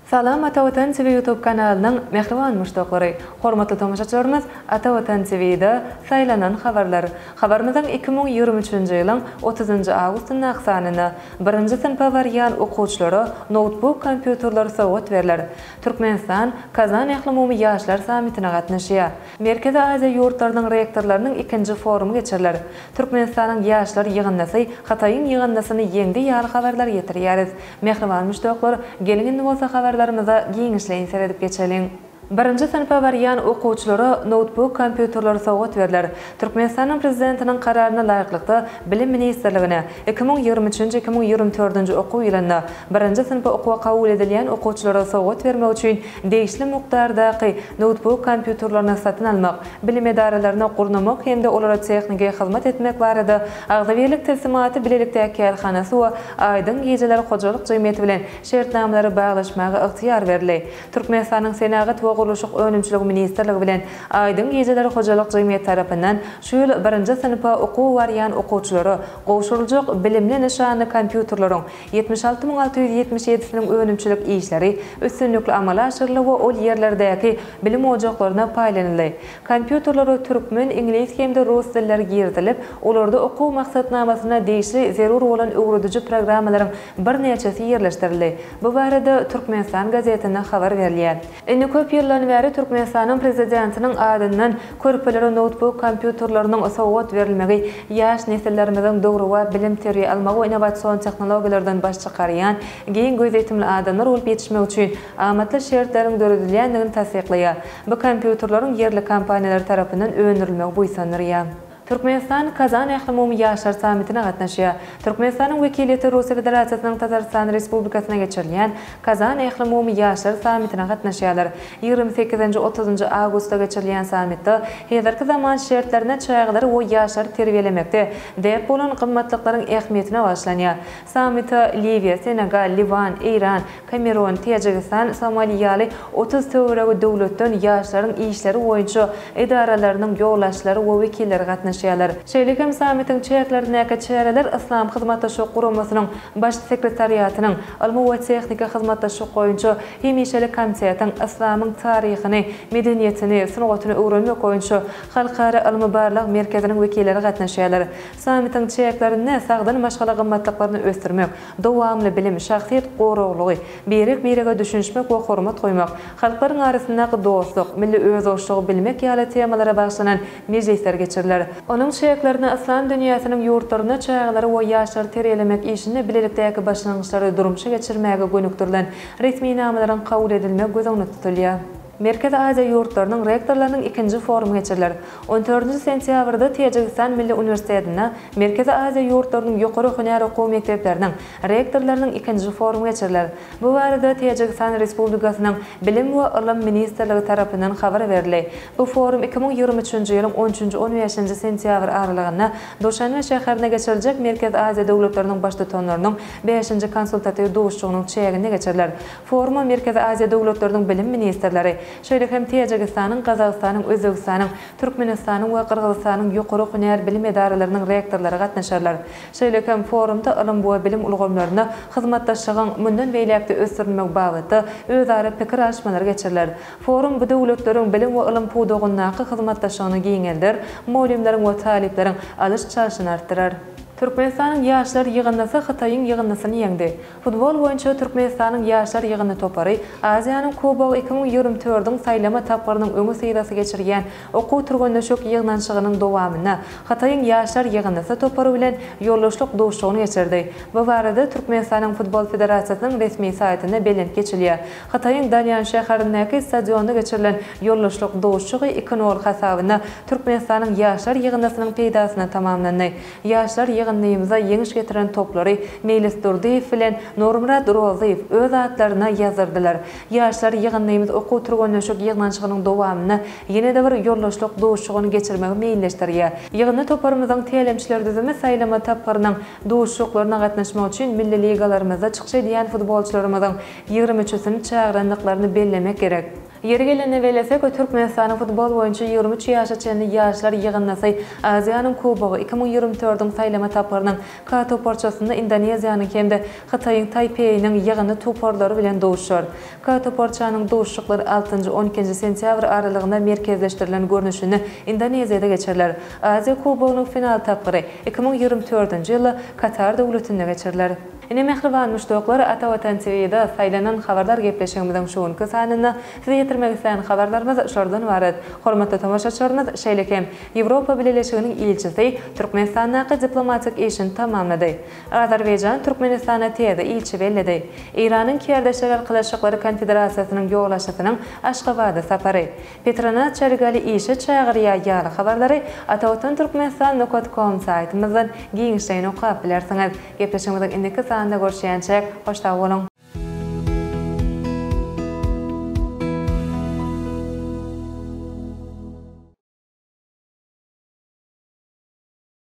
Salam Ata Watan TV YouTube kanalynyň mähriban muşdaklary! Hormatly tomaşaçylarymyz Ata Watan TVda Saýlanan habarlar habarymyzyň iki müň ýigrimi üçünji ýylyň otuzynjy awgustyndaky sanynda birinji synpa barýan okuwçylara noutbuk kompýuterler sowgat berler. Türkmenistan Kazan ählumumy ýaşlar sammitine gatnaşýar. Merkezi Aziýa ýurtlarynyň rektorlarynyň ikinji forumy geçiriler. Türkmenistanyň ýaşlar ýygyndysy Hytaýyň ýygyndysyny ýeňdi ýaly habarlar ýetirýäris. Mähriban muşdaklar, geliň indi bolsa habarlarymyza giňişleýin seredip geçeliň. Birinji synpa barýan okuwçylara noutbuk kompýuterler sowgat berler. Türkmenistanyň Prezidentiniň Kararyna laýyklykda Bilim ministrligine, iki müň ýigrimi üçünji-iki müň ýigrimi dördünji okuw ýylynda birinji synpa okuwa kabul edilýän okuwçylara sowgat bermek üçin Degişli mukdardaky noutbuk kompýuterlerini satyn almak, bilim edaralaryny gurnamak hem-de olara tehniki hyzmat etmek barada Agzybirlik tilsimaty bilelikdäki kärhanasy we Aýdyň gijeler hojalyk jemgyýeti bilen şertnamalary baglaşmaga ygtyýar berildi. Türkmenistanyň Senagat we gurluşyk önümçiligi ministrligi bilen Aýdyň gijeler hojalyk jemgyýeti tarapyndan şu ýyl birinji synpa okuwa barýan okuwçylara gowşuryljak bilimli nyşanly kompýuterleriň Ýetmiş alty müň alty ýüz ýetmiş ýedisiniň önümçilik işleri üstünlikli amala aşyryldy we ol ýerlerdäki bilim ojaklaryna paýlanyldy. Kompýuterlere türkmen, iňlis hem-de rus dilleri girizilip, olarda okuw maksatnamasyna degişli zerur bolan öwrediji programmalaryň birnäçesi ýerleşdirildi. Bu barada Türkmenistan gazetinde habar berilýär. Indi köp ýyldan bäri Türkmenistanyň Prezidentiniň adyndan körpelere noutbuk kompýuterleriniň sowgat berilmegi ýaş nesillerimiziň döwrebap bilim terbiýe almagy we innowasion tehnologiýalardan baş çykarýan giň gözýetimli adamlar bolup ýetişmegi üçin amatly şertleriň döredilýändigini tassyklaýar. Bu kompýuterleriň ýerli kompaniýalary tarapyndan öndürilmegi buýsandyrýar. Türkmenistan Kazan ählumumy ýaşlar sammitine gatnaşýar. Türkmenistanyň wekiliýeti Russiýa Federasiýasynyň Tatarystan Respublikasynda geçirilýän Kazan ählumumy ýaşlar sammitine gatnaşýarlar. Ýigrimi sekizinji, otuzynjy awgustda geçirilýän sammitde häzirki zaman şertlerinde çagalary we ýaşlary terbiýelemekde däp bolan gymmatlyklaryň ähmiýetine bagyşlanýar. Sammite Liwiýa, Senegal, Liwan, Eýran, Kamerun, Täjigistan, Somali ýaly otuz töweregi döwletden ýaşlaryň işleri boýunça edaralarynyň ýolbaşçylary we wekilleri gatnaşýarlar. Şeýle hem sammitiň çäklerindäki çäreler Yslam Hyzmatdaşlyk Guramasynyň Baş sekretariatynyň Ylmy we tehniki hyzmatdaşlyk boýunça hemişelik komitetiň Yslamyň taryhyny, medeniýetini, sungatyny öwrenmek boýunça Halkara ylmy-barlag merkeziniň wekilleri gatnaşýarlar. Sammitiň çäklerinde sagdyn maşgala gymmatlyklaryny ösdürmek, Dowamly bilim, şahsyýet goraglygy, birek-birege düşünişmek we hormat goýmak, halklaryň arasyndaky dostluk, milli özboluşlygy bilmek ýaly temalara bagyşlanan mejlisler geçiriler. Onuň çäklerinde yslam dünýäsiniň ýurtlarynda çagalary we ýaşlary terbiýelemek işinde bilelikdäki başlangyçlary durmuşa geçirmäge gönükdirilen resminamalaryň kabul edilmegi göz öňünde tutulýar. Merkezi Aziýa ýurtlarynyň rektorlarynyň ikinji forumy geçiriler. On dördünji sentýabrda Täjigistan Milli uniwersitetinde Merkezi Aziýa ýurtlarynyň ýokary hünär okuw mekdepleriniň rektorlarynyň ikinji forumy geçiriler. Bu barada Täjigistan Respublikasynyň Bilim we ylym ministrligi tarapyndan habar berildi. Bu forum iki müň ýigrimi üçünji ýylyň on üçünji, on bäşinji sentýabr aralygynda Duşanbe şäherinde geçiriljek Merkezi Aziýa döwletleriniň Baştutanlarynyň bäşinji konsultatiw duşuşygynyň çäginde geçiriler. Foruma Merkezi Aziýa döwletleriniň bilim ministrleri, şeýle hem Täjigistanyň, Gazagystanyň, Özbegistanyň, Türkmenistanyň we Gyrgyzystanyň ýokary hünär bilim edaralarynyň rektorlary gatnaşarlar. Şeýle hem forumda ylym we bilim ulgamlarynda hyzmatdaşlygyň mundan beýläk-de ösdürilmegi babatda özara pikir alyşmalar geçiriler. Forum bu döwletleriň bilim we ylym pudagyndaky hyzmatdaşlygyny giňelder, mugallymlaryň we talyplaryň alyş-çalşyny artdyrar. Türkmenistanyň ýaşlar ýygyndysy Hytaýyň ýygyndysyny ýeňdi. Futbol boýunça Türkmenistanyň ýaşlar ýygyndy topary Aziýanyň Kubogy iki müň ýigrimi tördiň saýlama tapgyrynyň öňi syrasy geçirýän okuw-türgenleşik ýygnanyşygynyň dowamynda Hytaýyň ýaşlar ýygyndysy topary bilen ýoldaşlyk duşuşygyny geçirdi. Bu barada Türkmenistanyň Futbol federasiýasynyň resmi saýtynda belent geçilýär. Hytaýyň Danýan şäherindäki stadionda geçirilen ýoldaşlyk duşuşygy iki nol hasabyna Türkmenistanyň ýaşlar ýygyndysynyň peýdasyna tamamlandy. Ýaşlar ýygyndymyza ýeňiş getiren toplary Meýlis Durdyýew bilen Nurmyrat Rozyýew öz atlaryna ýazdyrdylar. Ýaşlar ýygyndymyz okuw-türgenleşik ýygnanyşygynyň dowamynda ýene-de bir ýoldaşlyk duşuşygyny geçirmegi meýilleşdirýär. Ýygyndy toparymyzyň tälimçiler düzümi saýlama tapgyrynyň duşuşyklaryna gatnaşmak üçin milli ligalarymyzda çykyş edýän futbolçylarymyzyň ýigrimi üçüsini çagyrandyklaryny bellemek gerek. Ýeri gelende bellesek, Türkmenistanyň futbol boýunça ýigrimi üç ýaşa çenli ýaşlar ýygyndysy Aziýanyň Kubogy iki müň ýigrimi dördiň saýlama tapgyrynyň K toparçasynda Indoneziýanyň hem-de Hytaýyň Taýpeýiniň ýygyndy toparlary bilen duşar. K toparçanyň duşuşyklary altynjy, on ikinji sentýabr aralygynda merkezleşdirilen görnüşinde Indoneziýada geçiriler. Aziýa Kubogynyň final tapgyry iki müň ýigrimi dördünji ýylda Katar döwletinde geçiriler. Ine mähriban muşdaklar Ata Watan TVda saýlanan habarlar gepleşigimiziň şu günki sanynda size ýetirmek islän habarlarymyz şolardan ybarat. Hormatly tomaşaçylarymyz şeýle hem Ýewropa Bileleşiginiň ilçisi Türkmenistandaky diplomatik işini tamamlady. Azerbaýjan Türkmenistana täze ilçi belledi. Eýranyň Kärdeşler arkalaşyklary konfederasiýasynyň ýolbaşçysynyň Aşgabada sapary. Petronas Çarigali işe çagyrýar ýaly habarlary Atawatan Türkmenistan nokat kom saýtymyzdan giňişleýin okap bilersiňiz. Gepleşigimiziň indiki sanynda görüşýänçäk, hoş sag boluň!